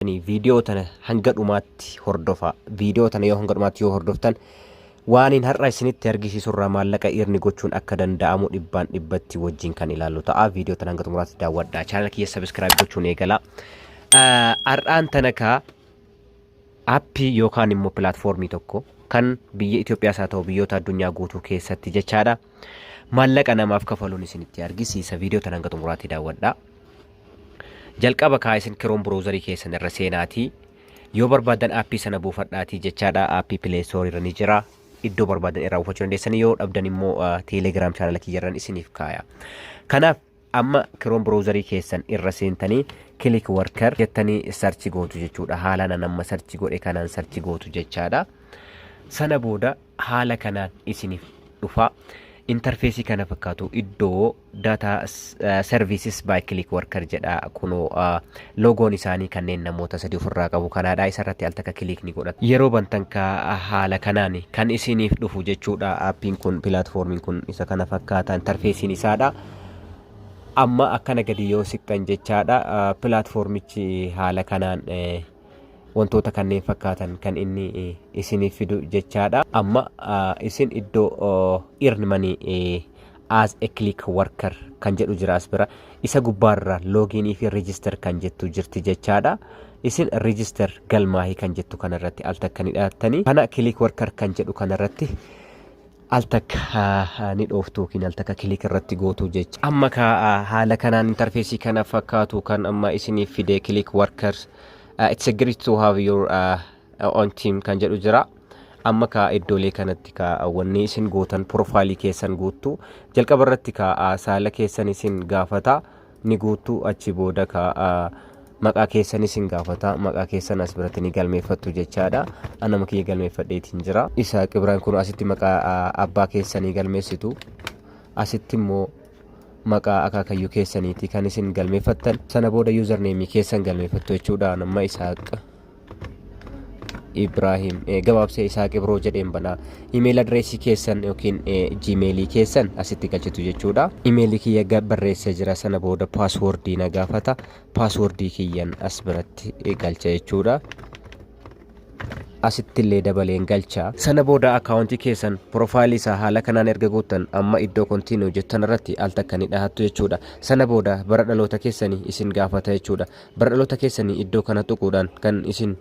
Ani viidiyoo tana hanga dhumaatti hordofa. Viidiyoo tana yoo hanga dhumaatti yoo hordoftan waaniin har'a isinitti argisiisurraa maallaqa iirni gochuun akka danda'amu dhibbaan dhibbatti wajjin kan ilaallu ta'a. Viidiyoo tana hanga xumuraatti daawwadhaa. Chaanala kiyya sabiskiraayib gochuun eegalaa. Ah, Har'aan tana kaa appii yookaan immoo pilaatfoormii tokko kan biyya Itoophiyaas haa ta'u biyyoota addunyaa guutuu keessatti jechaadha. maallaqa namaaf kafaluun isinitti argisiisa viidiyoo tan hanga xumuraatti daawwadha jalqaba kaa isin kiroon browzarii keessan irra seenaatii yoo barbaadan aappii sana buufadhaatii jechaadha aappii pileestoorii irra ni jira iddoo barbaadan irraa buufachuu dandeessan yoo dhabdan immoo teelegiraam chaanala kiyyarran isiniif kaaya kanaaf Amma Chrome browser keessan irra seentanii click worker jettanii search gootu jechuudha. Haalaan an amma search godhe kanaan search gootu jechaadha. Sana booda haala kanaan isiniif dhufa. Interfeesii kana fakkaatu iddoo data eh, services by click worker jedha kunoo ah, loogoon isaanii kanneen namoota sadii ofirraa qabu kanaadha isarratti al takka click ni godhatu. Yeroo bantan ka haala kanaan kan isiniif dhufu jechuudha. Appiin kun pilaatfoormiin kun isa kana fakkaata interfeesiin isaadha. Amma akkana gadi yoo siqxan jechaadha pilaatfoormichi haala kanaan wantoota kanneen fakkaatan kan inni isiniif fidu jechaadha. Amma isin iddoo earn money as a click worker kan jedhu jira as bira isa gubbaarra login fi register kan jettu jirti jechaadha. Isin register galmaahii kan jettu kanarratti al takka ni dhahattanii kana click worker kan jedhu kanarratti Al takka ni dhooftu yookiin al takka click irratti gootu jecha. Amma ka haala kanaan interfeesii kana fakkaatu kan amma isiniif fide click workers. Uh, it's a great to have your uh, own team kan jedhu jira. Amma ka iddoolee kanatti ka wanni isin gootan profaayilii keessan guuttu jalqaba irratti ka uh, saala keessan isin gaafata. ni guuttu achi booda ka maqaa keessan isin gaafata maqaa keessan as biratti ni galmeeffattu jechaadha anama kiyya galmeeffadheetiin jira isa qibiraan kun asitti maqaa abbaa keessanii galmeessitu asitti immoo maqaa akaakayyuu keessaniiti kan isin galmeeffattan sana booda yuuzarneemii keessan galmeeffattu jechuudha nama isaaq Ibrahim eh, gabaabsee Isaaq Ibroo jedheen banaa. Imeeyil adireesii keessan yookiin eh, jiimeelii keessan asitti galchitu jechuudha. Imeeyilii kiyya ga- barreessee jira sana booda paaswoordii na gaafata. Paaswoordii kiyyan as biratti eh, galcha jechuudha. asitti illee dabaleen galcha. Sana booda akaawuntii keessan piroofaayilii isaa haala kanaan erga guuttan amma iddoo kontiinuu jettan irratti al takka ni dhahattu jechuudha. Sana booda bara dhaloota keessanii isin gaafata jechuudha. Bara dhaloota keessanii iddoo kana tuquudhaan kan isin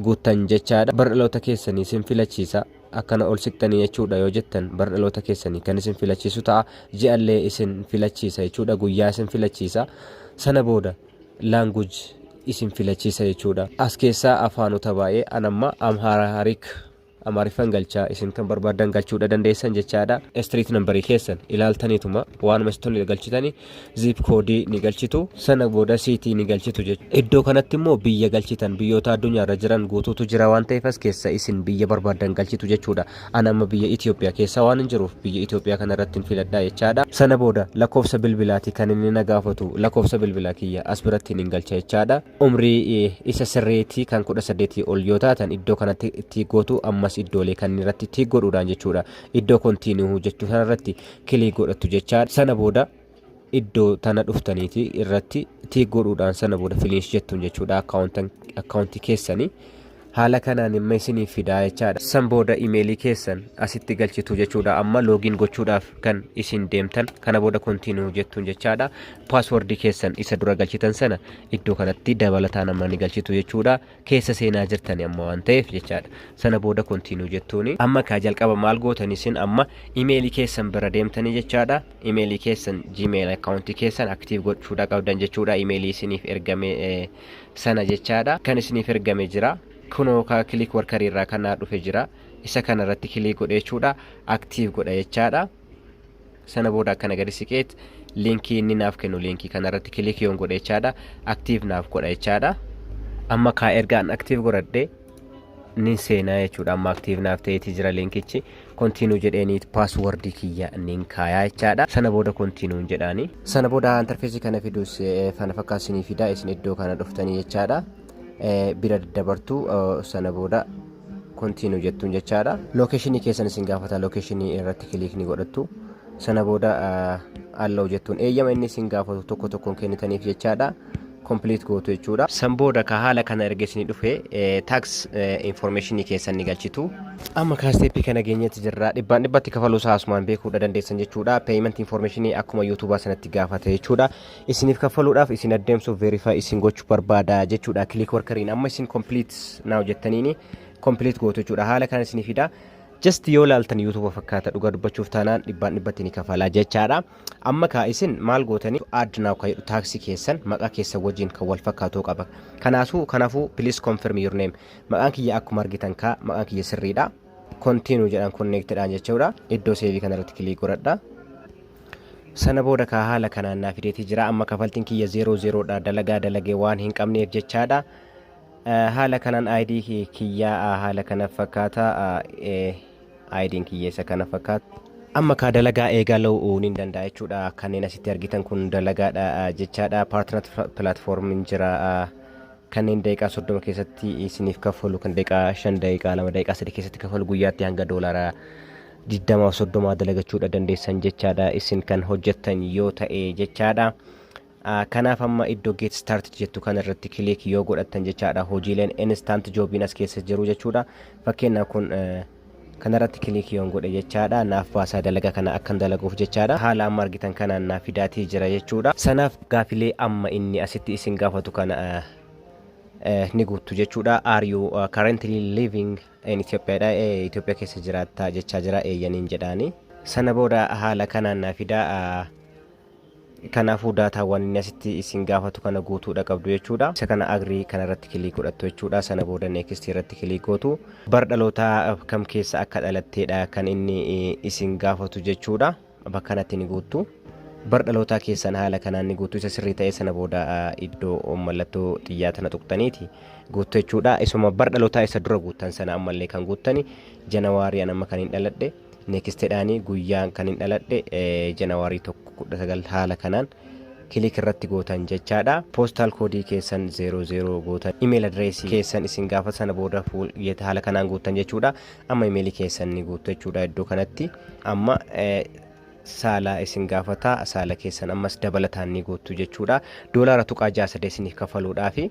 guuttan jechaadha. Bara dhaloota keessanii isin filachiisa. Akkana ol siqxanii jechuudha yoo jettan bara dhaloota keessanii kan isin filachiisu ta'a. Ji'allee isin filachiisa jechuudha. Guyyaa isin filachiisa. Sana booda language isin filachiisa jechuudha. As keessaa afaanota baay'ee anamma Amharic Amaariffan galchaa isin kan barbaaddan galchuudha dandeessan jechaadha. Street number keessan ilaaltaniituma waanuma isin tole galchitani zip koodii ni galchitu sana booda siitii ni galchitu jechuudha. Iddoo kanatti immoo biyya galchitan biyyoota addunyaa irra jiran guutuutu jira waan ta'eef as keessa isin biyya barbaaddan galchitu jechuudha. An amma biyya Itoophiyaa keessa waan hin jiruuf biyya Itoophiyaa kana irratti hin filadha jechaadha. Sana booda lakkoofsa bilbilaati kan inni na gaafatu lakkoofsa bilbilaa kiyya as biratti hin galcha jechaadha. Umrii isa sirriitii kan 18 ol yoo taatan iddoo kanatti tiik gootu ammas iddoolee kanneen irratti tiik godhuudhaan jechuudha. Iddoo kontiinuu jechuu sana irratti kilii godhattu jechaa sana booda iddoo tana dhuftaniiti irratti tiik godhuudhaan sana booda finiish jettuun jechuudha akkaawuntii keessanii. Haala kanaan imma isiniif fidaa jechaadha. San booda email keessan asitti galchitu jechuudha. Amma login gochuudhaaf kan isin deemtan kana booda continue jettuun jechaadha. Password keessan isa dura galchitan sana iddoo kanatti dabalataan amma ni galchitu jechuudha. Keessa seenaa jirtani amma waan ta'eef jechaadha. Sana booda continue jettuuni. Amma kaa jalqaba maal gootan isin amma email keessan bira deemtanii jechaadha. Email keessan Gmail account keessan active gochuudha qabdan jechuudha. Email isiniif ergame eh, sana jechaadha. Kan isiniif ergame jira. Kunoo ka click worker irraa kan naa dhufe jira. Isa kana irratti click godhe jechuudha. Active godha jechaadha. Sana booda akkana gadi siqeet linkii inni naaf kennu linkii kana irratti click yoon godhe jechaadha. Active naaf godha jechaadha. Amma kaa erga an active godhadhe nin seenaa jechuudha. Amma active naaf ta'eeti jira linkichi. continue jedheeni password kiyya nin kaayaa jechaadha sana booda continue hin jedhaani sana booda interface kana fidus eh, fana fakkaatu isinii fida isin iddoo kana dhuftanii jechaadha Eh, bira daddabartu eh, sana booda continue jettuun jechaadha lokeeshinii keessan isin gaafata lokeeshinii irratti kiliik ni godhattu sana booda eh, allow jettuun eeyyama inni isin gaafatu tokko tokkoon kennitaniif jechaadha complete gootu jechuudha. San booda ka haala kana erga isinii dhufe tax information keessan ni galchitu. Amma kaa step kana geenyetti jirra. Dhibbaan dhibbatti kafaluu isaa asumaan beekuudha dandeessan jechuudha. Payment information akkuma YouTube sanatti gaafata jechuudha. Isiniif kaffaluudhaaf isin addeemsuuf verify isin gochuu barbaada jechuudha. Click workeriin amma isin complete now jettaniini complete gootu jechuudha. Haala kana isinii fida. Just yoo laaltan YouTube fakkaata dhugaa dubbachuuf taanaan dhibbaan dhibbatti ni kafala jechaadha. Amma kaa isin maal gootaniif add now ka jedhu taaksi keessan maqaa keessan wajjiin kan wal fakkaatu qaba. Kanaasuu kanafuu please confirm your name. Maqaan kiyya akkuma argitan kaa maqaan kiyya sirriidha. Continue jedhaan connect dhaan jechuudha. Iddoo seevii kana irratti click godhadha. Sana booda kaa haala kanaan naa fideetii jira. Amma kafaltiin kiyya 00 dha. Dalagaa dalagee waan hin qabneef jechaadha. Haala kanaan ID kiyya haala kana fakkaata. Ayidiin kiyya isa kana fakkaatti. Amma kaa dalagaa eegaluu nin danda'a jechuudha. Kanneen asitti argitan kun dalagaadha jechaadha. Paartinaat pilaatfoormiin jira. Kanneen daqiiqaa soddoma keessatti isiniif kaffalu kan daqiiqaa shan daqiiqaa lama daqiiqaa sadii keessatti kaffalu guyyaatti hanga doolaara digdama soddomaa dalagachuudha dandeessan jechaadha. Isin kan hojjettan yoo ta'e jechaadha. Kanaaf amma iddo get started jettu kana irratti click yoo godhattan jechaadha hojiileen instant jobin as keessa jiru jechuudha. Fakkeenyaaf kun kanarratti click yoon godhe jechaadha naaf baasaa dalaga kana akkan dalaguuf jechaadha. Haala amma argitan kanaan naaf fidaatii jira jechuudha. Sanaaf gaafilee amma inni asitti isin gaafatu kana ni guuttu jechuudha. Are you currently living in Ethiopia dha. Itoophiyaa keessa jiraattaa jechaa jira eeyyaniin jedhaani. Sana booda haala kanaan naaf fidaa Kanaafuu daataawwan inni asitti isin gaafatu kana guutuudha qabdu jechuudha. Isa kana agrii kana irratti kiliik godhattu jechuudha. Sana booda next irratti kiliik gootu. Bara dhalootaa kam keessa akka dhalatteedha kan inni isin gaafatu jechuudha. Bakka kanatti ni guuttu. Bara dhalootaa keessan haala kanaan ni guuttu. Isa sirrii ta'e sana booda iddoo mallattoo xiyyaa tana tuqxaniiti guuttu jechuudha. Isuma bara dhalootaa isa dura guuttan sana ammallee kan guuttani janawaarii an amma kan hin dhaladhe. Nextedhaani guyyaan kanin dhaladhe January 1 19 haala kanaan click irratti gootan jechaadha. Postal code keessan 00 gootan email address keessan isin gaafata sana booda full yet haala kanaan guuttan jechuudha. Amma email keessan ni guuttu jechuudha iddoo kanatti. Amma saala isin gaafata saala keessan ammas dabalataan ni guuttu jechuudha. Doolaara tuqaa 6 3 isiniif kafaluudhaafi.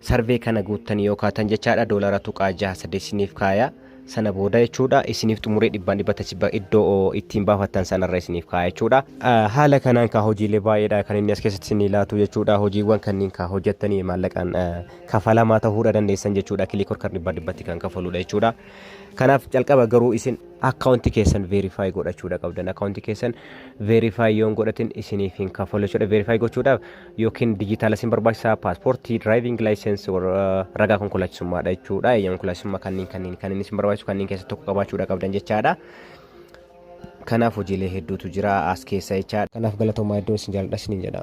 Sarvee kana guuttanii yoo kaatan jechaadha doolara tuqaa jaha saddeet isiniif kaaya. Sana booda jechuudha isiniif xumuree dhibbaan dhibba tachi iddoo ittiin baafattan sanarra isiniif kaaya jechuudha. Haala kanaan kaa hojiilee baay'eedha kan inni as keessatti isinii laatu jechuudha. Hojiiwwan kanneen kaa hojjettanii maallaqaan kafalamaa ta'uudha dandeessan jechuudha. Kilikor kan dhibbaan dhibbatti kan kafaluudha jechuudha. Kanaaf calqaba garuu isin akkaawunti keessan veerifaayi godhachuudha qabdan. Akkaawunti keessan veerifaayi yoon godhatin isiniif hin kafalu jechuudha. Veerifaayi gochuudhaaf yookiin dijitaala isin barbaachisa paaspoortii diraayiviing laayisensi ragaa konkolaachisummaadha jechuudha eeyyama konkolaachisummaa kanneen kanneen kanneen isin barbaachisu kanneen keessa tokko qabaachuudha qabdan jechaadha. Kanaaf hojiilee hedduutu jira as keessa jechaadha. Kanaaf galatoomaa iddoo isin jaalladha isiniin jedha.